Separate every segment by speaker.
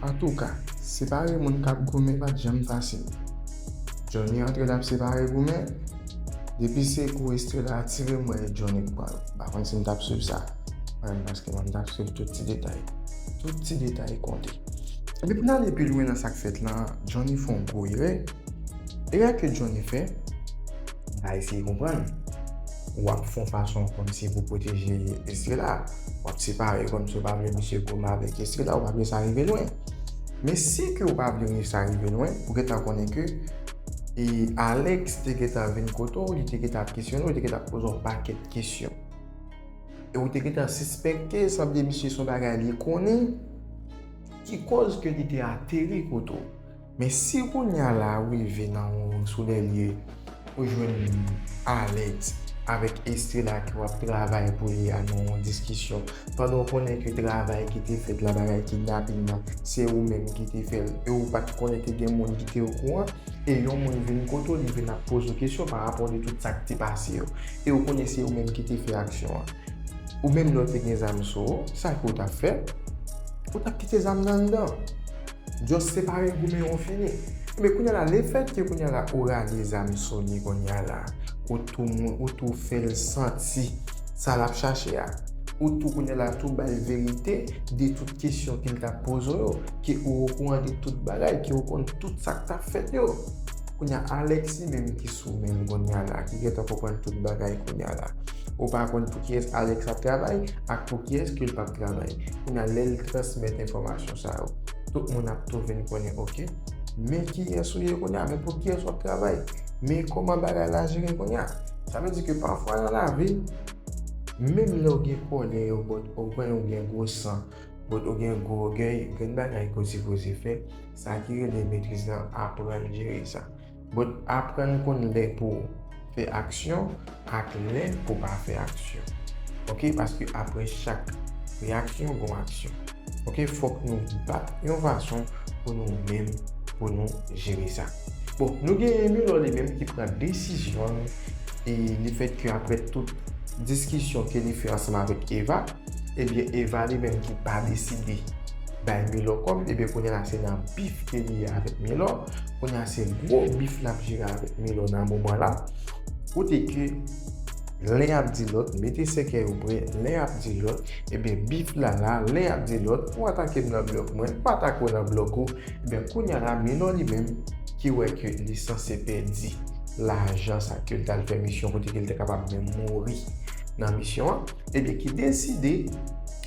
Speaker 1: Antouka, separe moun k ap goumen pa t janm fasil. Johnny antre l ap separe goumen, depi se kou Estrella atire m wè Johnny pran l. M pa konn si m t ap swiv sa, paske m t ap swiv tout ti detay. Tout ti detay konte. Epi pou n ale pi lwen nan sa k fèt lan, Johnny fè yon gwo erè. Erè ke Johnny fè, n va eseye konprann. W ap fè yon fason kòmsi pou pwoteje Estrella. W ap separe kòmsi ou pa vle misye koma avèk Estrella, ou pa vle sa rive lwen. Men si ke ou pa vle sa rive lwen, ou gen tan konnen ke e Alex te gen tan vin kote w, li te gen tan ap kesyone w, li te gen tan ap poze w pakèt kesyon. E ou te gentan sispekte, sa vle di misye son bagay li konnen ki koz ke li te ateri kote w. Men si kounya la ou rive nan yon sou lè lye, ou jwenn Alex avèk Estrella ki wap travay pou li a nan yon diskisyon, pandan ou konnen ke travay ki te fèt la, bagay kidnaping la, se ou menm ki te fè l, e ou pat konnen te gen moun ki te okouran, e yon moun vin kote w, li vin ap poze w kesyon parapò de tout sa k te pase yo. E ou konnen se ou menm ki te fè aksyon an. Ou menm lè w te gen zam sou ou, sa ke w tap fè? Ou tap kite zam nan anndan. Just separe goumen yo fini. Ebyen kounya la le fèt ke kounya la ou rale zam sou li kounya la, ou tou moun, ou tou fè l santi sa lap chache a. Ou tou kounya la tou bay verite de tout kesyon ke l tap poze w yo, ke ou okouran de tout bagay, ke ou konn tout sak tap fèt yo. Kounya Alexis menm ki sou menl kounya la ki gentan konprann tout bagay kounya la ou pa konn pou kiyès Alex ap travay ak pou kiyès ke l pap travay kounya lè l transmèt enfòmasyon sa yo tout moun ap tou vin konnen ok men kiyès ou ye kounya men pou kiyès wap travay men kòman bagay la jere kounya sa vle di ke pafwa nan lavi menm lè ou gen kòlè yo bòt ou kwè ou gen gwo san bòt ou gen gwo ògèy gen bagay ke w sipoze fè. Sa ki rele metriz lan aprann jere sa. But aprann konn lè pou fè aksyon ak lè pou pa fè aksyon. Ok paske apre chak reaksyon gon aksyon. Ok fok nou bat yon fason pou nou menm pou nou jere sa. Bon nou gen Emilor li menm ki pran desizyon li e li fèt ke apre tout diskisyon ke li fè ansanm avèk Eva. Ebyen Eva li menm ki pa deside bay Milò kòb ebyen kounye la se nan bif ke li ye avèk Milò, kounye a se gwo bif lap jere avèk Milò nan moman la, kote ke len yap di lòt mete sèkèy ou prè, len yap di lòt ebyen bif la la, len yap di lòt ou atakem nan blòk mwen, m atake w nan blòk ou, ebyen kounye la Milò li menm ki wè ke li sanse pèdi lajan sa kel tal fè misyon kote kel te kapab menm mouri nan misyon an. Ebyen ki deside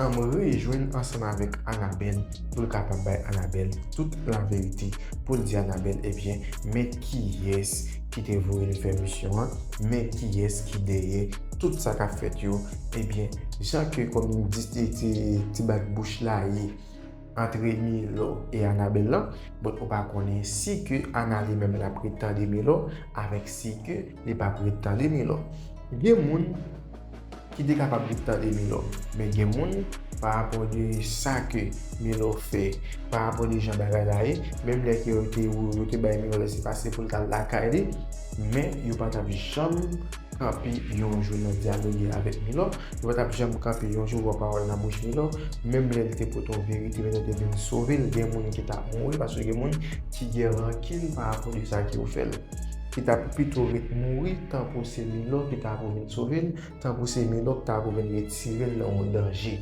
Speaker 1: anm rejwenn ansanm avèk Anabèl poul kapab bay Anabèl tout laverite poul di Anabèl ebyen men kiyès ki te voyel fè misyon an men kiyès ki dèyè tout sa kap fèt yo ebyen jan ke kòm ti bat bouch la ye antre Milo e Anabèl lan bon ou pa konnen si ke Ana li menm lap ret tande Milo avèk si ke li pap ret tande Milo gen moun Ki te kapab vin tande Milò. Men gen moun, pa rapò de sa ke Milò fè, pa rapò de jan bagay la ye, menm lè ke yo te ou, yo te bay Milò lèse pase pou l t al lakay li, men yo pa t ap janm kanpe yon jou nan dyaloge avèk Milò, yo pa t ap janm kanpe yon jou wè yon pawòl nan bouch Milò, menm lè l te pote yon verite, menm lè l te vin sove l, gen moun ki t ap mouri paske gen moun ki gen rankin pa rapò de sa ke yo fè l. ki ta pou pito ret mouri tan pou se Milò ki ta pou vin sove l, tan pou se Milò ki ta pou vin retire l nan yon danje.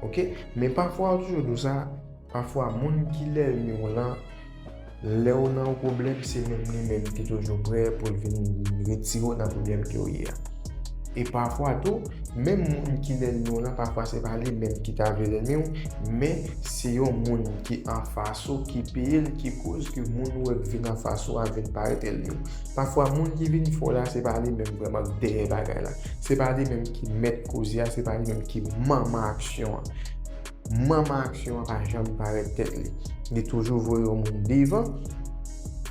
Speaker 1: Ok, men pafwa yo toujou di w sa, pafwa moun ki lènmi w lan, lè w nan yon pwoblèm se menm li menm ki toujou prè pou l vin retire w nan pwoblèm ke w ye a. E pafwa tou, menm moun ki nenni w lan pafwa se pa li menm ki ta vle nenni w, men se yon moun ki anfas ou ki peye l ki koz ke moun ou wè k vin anfas ou a vin parèt elmi w. Pafwa moun ki vin fè w la se pa li menm vrèman k dèyè bagay la. Se pa li menm ki mèt koze a, se pa li menm ki manman aksyon an. Manman aksyon an pa janm parèt tèt li. Li toujou voye yon moun devan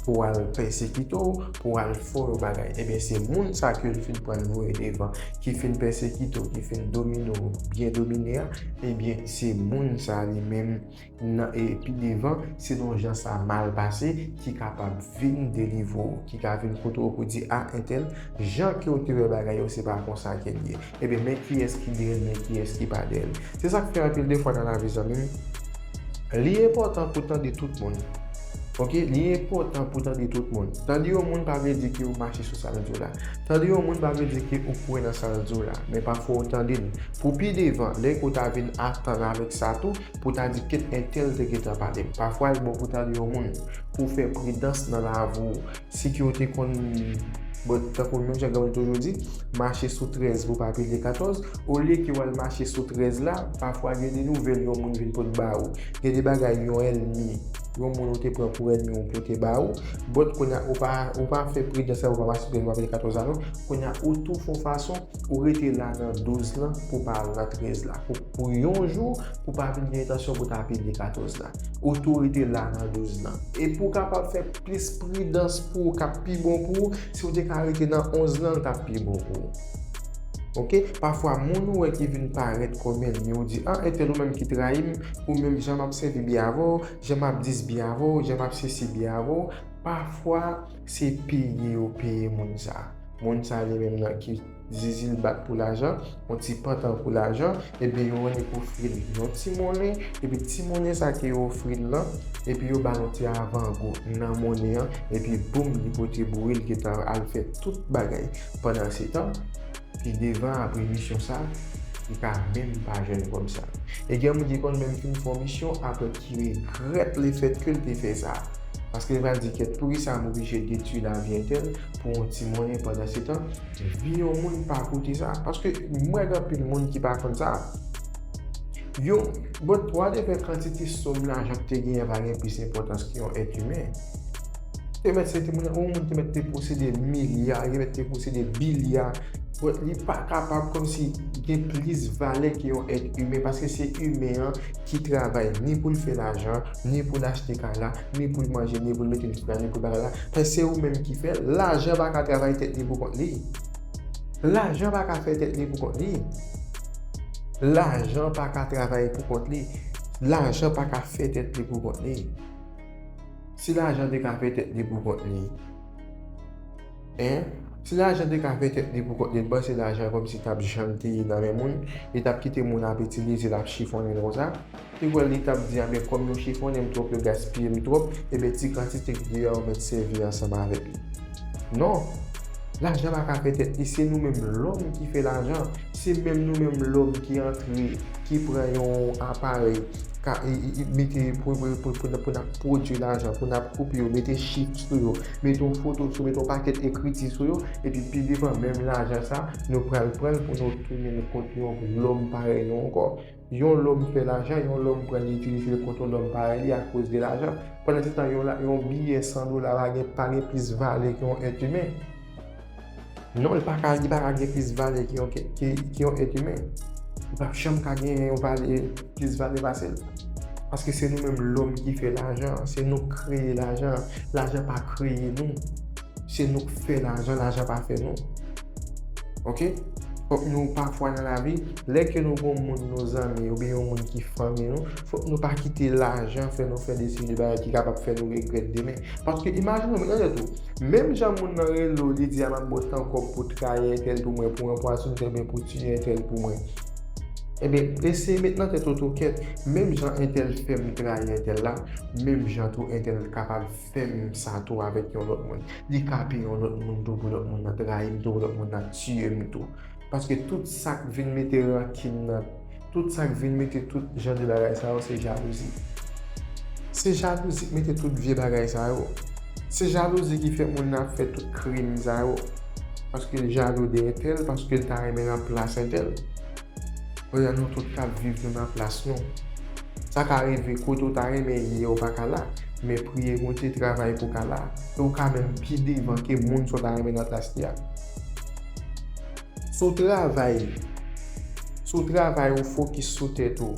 Speaker 1: pou al pèsekite w, pou al fè w yon bagay. Ebyen se moun sa ke l fin pran voye devan, ki fin pèsekite w, ki fin domine w, byen domine a, ebyen se moun sa li menm nan e pi devan, selon jan sa mal pase, ki kapab vin delivre w, ki ka vin kote w pou di a entèl, jan ke w te wè bagay yo se pa konsa ke l ye. Ebyen men kiyès ki de l men kiyès ki pa de l. Se sa k fè anpil de fwa nan lavi zanmi m li enpòtan pou tande tout moun ok li enpòtan pou tande tout moun. Tande yon moun pa vle di ke ou mache sou sa l di w la. Tande yon moun pa vle di ke ou kwè nan sa l di w la. Men pafwa ou tande l pou pi devan lè ke w ta vin atann avèk sa tou pou w ta di ket entèl te gentan pale m. Pafwa l bon pou w tande yon moun pou w fè pridans nan lavi w. Si ke ou te konn, bon, tankou menm jan Gaulle toujou di, mache sou 13 pou pa pile 14, olye ke w al mache sou 13 la, pafwa gen de nouvèl yon moun vin pot ba ou. Gen de bagay yon ènmi, yon moun ou te pran pou ènmi ou pote ba ou. But, kounye a, ou pa, ou pa fè pridans sa, ou pa mache sou 13 pou pa pile 14 la non. Kounye a, ou tou fon fason, ou rete la nan 12 lan pou pa al nan 13 la. Pou, pou yon jou, pou pa vin gen entansyon pou ta pile 14 la. Ou tou rete la nan 12 lan. E pou kapab fè. Plis pridans pou ou kap pi bon pou ou, si ou te ka rete nan 11 lan l tap pi bon pou ou ok, pafwa moun ou wè ki vin parèt kòm ènmi ou di an entèl ou menm ki trayi m, ou menm jan map sèvi byen avè w, jan map dis byen avè w, jan map sesi byen avè w, pafwa se peye yo peye moun sa, moun sa li menm nan ki. zizil bat pou lajan, yon ti pantan pou lajan, ebyen yo annik ofri l yon ti monnen, epi ti monnen sa ke yo ofri l lan, epi yo ba l yon ti avangou nan monnen an, epi boum li pote boure l gentan al fè tout bagay. Pandansetan, pi devan apre misyon sa, li ka menm pa jwenn kòb sa. E gen moun ki konn menm fin fè yon misyon apre ki regrèt lefètke l te fè sa. Paske li pral di kèt poukisa m oblije detwi lavi entèl, pou yon ti monnen pandansetan, vi yon moun pa koute sa. Paske m wè gen anpil moun ki pa konn sa. Yo, bon, pou al te fè kantite sòm lajan ki te genyen pa gen plis enpòtans ke yon èt imen. Te mèt se te moun, yon moun te mèt te posede milya, te mèt te posede bilya, bon, li pa kapab kòm si gen plis valè ke yon èt imen, paske se imen an ki travay ni pou l fè lajan, ni pou l achte kay la. Ni pou l manje, ni pou l mete ekipman, ni pou l bagay la. Paske se ou menm ki fè l. Lajan pa ka travay tèt li pou kont li. Lajan pa ka fè tèt li pou kont li. Lajan pa ka travay pou kont li. Lajan pa ka fè tèt li pou kont li. Si lajan te ka fè tèt li pou kont li. Si lajan te ka fè tèt li pou kont li, m panse lajan kòmsi t ap janm te ye nan men moun. Li t ap kite moun ap itilize l, ap chifonnen l konsa. Te wè li tap di anben kòm yo chifonnenm twòp yo gaspiyem twòp eben ti kantite k de a ou mèt sèvi ansanm avèk li non lajan pa ka fè tèt li se nou menm lòm ki fè lajan se menm nou menm lòm ki antre ki pran yon aparèy ka mete pou nap pwodwi lajan pou nap koupe yo mete chif sou yo mete yon foto sou yo mete yon pakèt ekriti sou yo epi pi devan menm lajan sa nou pral pranl pou nou tounen l kont yon lòm parèy nou ankò. Yon lòm fè lajan, yon lòm pran li itilize l kont yon lòm parèy li akoz de lajan. Pandansetan, yon biyè 100 dola pa gen plis valè ke yon èt imen. Non, li pa ka gen plis valè ke yon èt imen. Li pa p janm ka gen yon valè, plis valè pase l. Paske se nou menm lòm ki fè lajan an. Se nou ki kreye lajan an. Lajan pa kreye nou. Se nou ki fè lajan, lajan pa fè nou. Ok? Fòk nou pafwa nan lavi, lè ke nou gon moun nou zanmi oubyen yon moun ki fanmi nou, fòk nou pa kite lajan fè nou fè desi de bagay ki kapab fè nou regrèt demen. Paske imajine ou, mete nan tèt ou, menm jan moun nan rele ou li di a map ba w tan kòb pou trayi entèl pou mwen, pou anpwa sou entèl oubyen pou tiye entèl pou mwen. Ebyen, eseye mete nan tèt ou tou ke menm jan entèl fè m trayi entèl la, menm jan tou entèl kapab. fè menm sa tou avèk yon lòt moun, li ka pi yon lòt moun tou pou lòt moun nan trayi m tou, pou lòt moun nan tiye m tou. Paske tout sa k vin mete rankin nan, tout sa k vin mete tout jan de bagay sa yo se jalouzi. Se jalouzi k mete tout vye bagay sa yo. Se jalouzi ki fè moun nan ap fè tout krim sa yo. Paske l jalou de entèl, paske l ta renmen nan plas entèl. Pandan nou tout t ap viv nou nan plas nou. Sa ka rive kote ou ta renmen ye a ou pa ka la, men priye Bondye, travay pou w ka la, e ou ka menm pi devan ke moun sa w ta renmen nan plas li a. Si w travay, si w travay ou fokis sou tèt ou,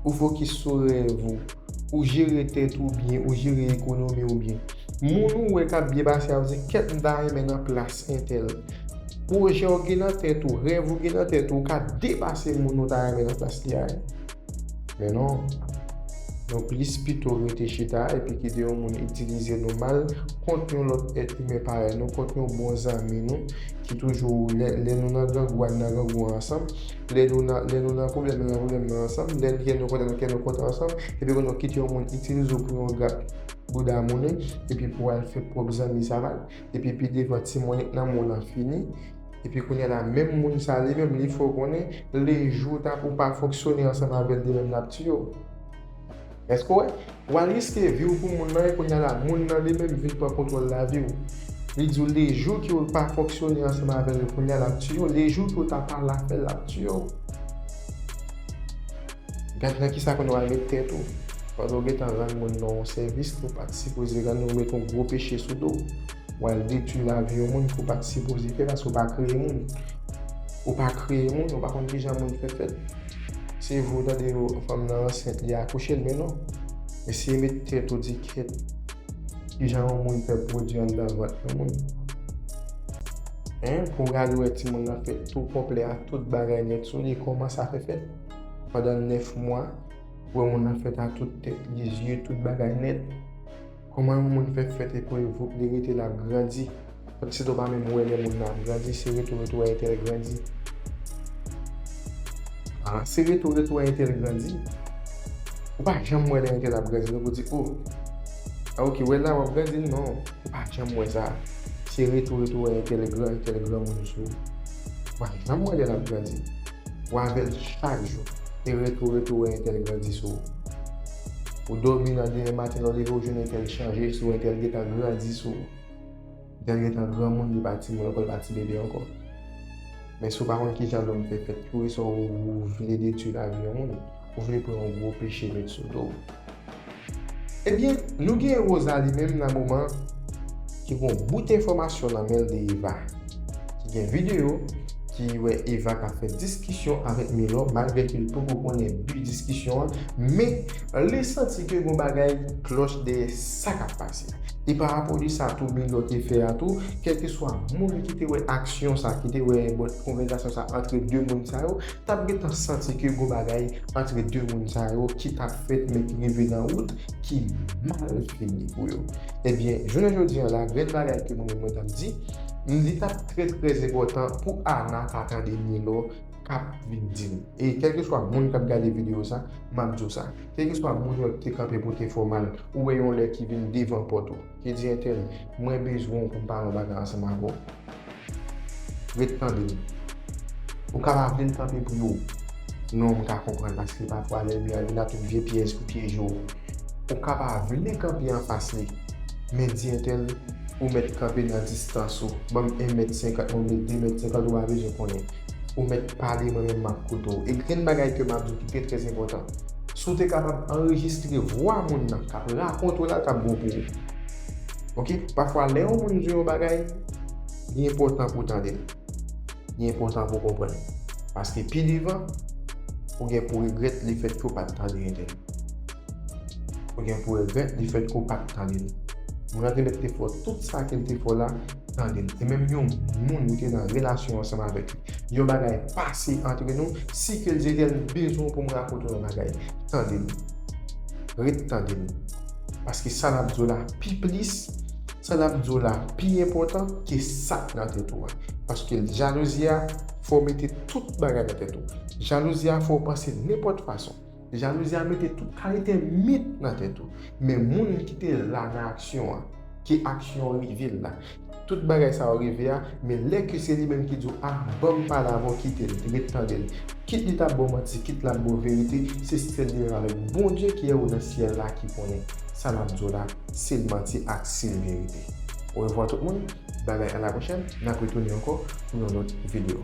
Speaker 1: ou fokis sou rèv ou, ou jere tèt ou byen, ou jere ekonomi ou byen, moun ou wè k ap byen pase a ap di kèt m ta renmen nan plas entèl. Pwojè ou gen nan tèt ou, rèv ou gen nan tèt ou, ou ka depase moun ou ta renmen nan plas li a yo. Men non, nou plis pito rete chita epi kite yon moun itilize nou mal kont yon lòt èt imen parèy nou, kont yon bon zanmi nou ki toujou lè nou nan grangou an nan grangou an ansanm, lè nou nan pwoblèm nan nan pwoblèm nan ansanm, lè kè nou kontan nan kè nou kontan ansanm epi kounye a kite yon moun itilize w pou yon grap bouda monnen epi pou al fè pwòp zanmi sa mal epi pi devan ti monnen nan moun lan fini. Epi kounya la menm moun sa li menm li fè w konnen le jou ou ta ou pa fonksyone ansanm avèl li menm lap tiye w èske w wè wal riske vi w pou moun nan e kounya la moun nan li menm vin pran kontwòl lavi w li di w le jou ki ou pa fonksyone ansanm avèl li kounya lap tiye w le jou ki ou ta pa la fèl lap tiye w gad nan kisa kounya wal met tèt ou pandan w gentan rann moun nan yon sèvis ke w pat sipoze rann ou met yon gwo peche sou do w. wal detwi lavi yon moun ke w pat sipoze fè paske w pa kreye moun ou pa kreye moun ou pa konn kijan moun fè fèt se vre w tande yo fanm nan ansent li akouche l men non eseye met tèt ou di ket kijan yon moun fè pwodwi anndan vant yon moun hein pou w gade wè ti moun nan fèt tou konplè ak tout bagay nèt sou li kòman sa fè fèt pandan 9 mwa wè moun nan fèt ak tout tèt li zye tout bagay nèt. Koman yon moun fè fèt epi revouk li rete lap grandi Paske se to pa menm wè lè moun nan ap grandi se retou retou a entèl grandi Ahh se retou retou a entèl grandi Ou pa janm wè lè entèl ap grandi non pou di oh Ah ok wè la wap grandi non ou pa janm wè sa se retou retou a entèl gran entèl granmoun sou ou pa janm wè lè lap grandi. Ou avèl chak jou. E retou retou wè entèl grandi sou ou. Ou dòmi nan demen maten lè w leve w jwenn entèl chanje sou ou entèl gentan grandi sou ou. Entèl gentan granmoun li pa timoun ankò li pa tibebe ankò. Men si w pa konn kijan lòm fè fèt tou e sa w vle detwi lavi yon moun, ou vle pran yon gwo peche met sou do w. Ebyen nou gen Rosa li menm nan moman ki gon bout enfòmasyon nan menl de Eva ki gen video ki wè Eva kap fè diskisyon avèk Milor malgre ke li poko konnen bi diskisyon an men li santi ke gon bagay ki klòch dèyè sa kap pase e pa rapò de sa tou Milor te fè a tou kèlkeswa moun ki te wè aksyon sa ki te wè konvèzasyon sa antre 2 moun sa yo tap gentan santi ke gon bagay antre 2 moun sa yo ki tap fèt men ki rive nan wout ki mal fini pou yo. Ebyen, jounen jodi an la, grenn bagay ke mwen menm mwen tap di, li tap trè trè enpòtan pou Ana ta tande Milo kap vin di li. E kèlkeswa moun kap gade videyo sa, map di w sa. Kèlkeswa moun yo ki te kanpe pou te fè w mal, ou wè yon lè ki vin devan pòt ou, ki di entèl, mwen bezwen w pou m pale yon bagay ansanm avè w. Ret tande m. Ou ka pa vle l kanpe pou yo. Non, m ka konprann paske pafwa lènmi an vin ak yon vye pyèj pou pyeje w. Ou ka pa vle kanpe anfas li. Men di entèl, Ou mèt kanpe nan distans ou. Ban m 1 mèt senkant mwen vle 2 mèt senkant ou pa bezwen konnen. Ou mèt pale mwen menm m ap koute w. E grenn bagay ke m ap di w ki trè trè enpòtan. Si w te kapab anrejistre vwa moun nan k ap rakonte w la, l t ap bon pou ou. Ok, pafwa lè yon moun di yon bagay, li enpòtan pou w tande l. Li enpòtan pou w konprann l. Paske pi devan, ou gen pou regrèt lefètke ou pa t tande entèvyou l. Ou gen pou regrèt lefètke ou pa t tande l. Moun nan te mèt te fè tout sa ke l te fè la, tande l. E menm yon moun ou te nan relasyon ansanm avèk li, yon bagay pase antre nou, si ke l di, Etèl, m bezwen w pou m rakonte w yon bagay. Tande l. Ret tande l. Paske sa lap diw la pi plis, sa lap diw la pi enpòtan ke sak nan tèt ou a. Paske jalouzi a fè w mete tout bagay nan tèt ou. Jalouzi a fè w panse nenpòt fason. Jalouzi a mete tout kalite mit nan tèt ou. Men moun ki te la nan aksyon an, ke aksyon an rive l la. Tout bagay sa yo rive a men lè ke se li menm ki di w ah banm pale avè w kite l ret tande l kit li ta bo manti kit lap bo verite se sèl li menm avèk Bondye ki anwo nan syèl la ki konnen sa lap di w la si l manti ak si l verite orevwa tout moun bye bye alapwochèn nap retounen ankò pou yon lòt video.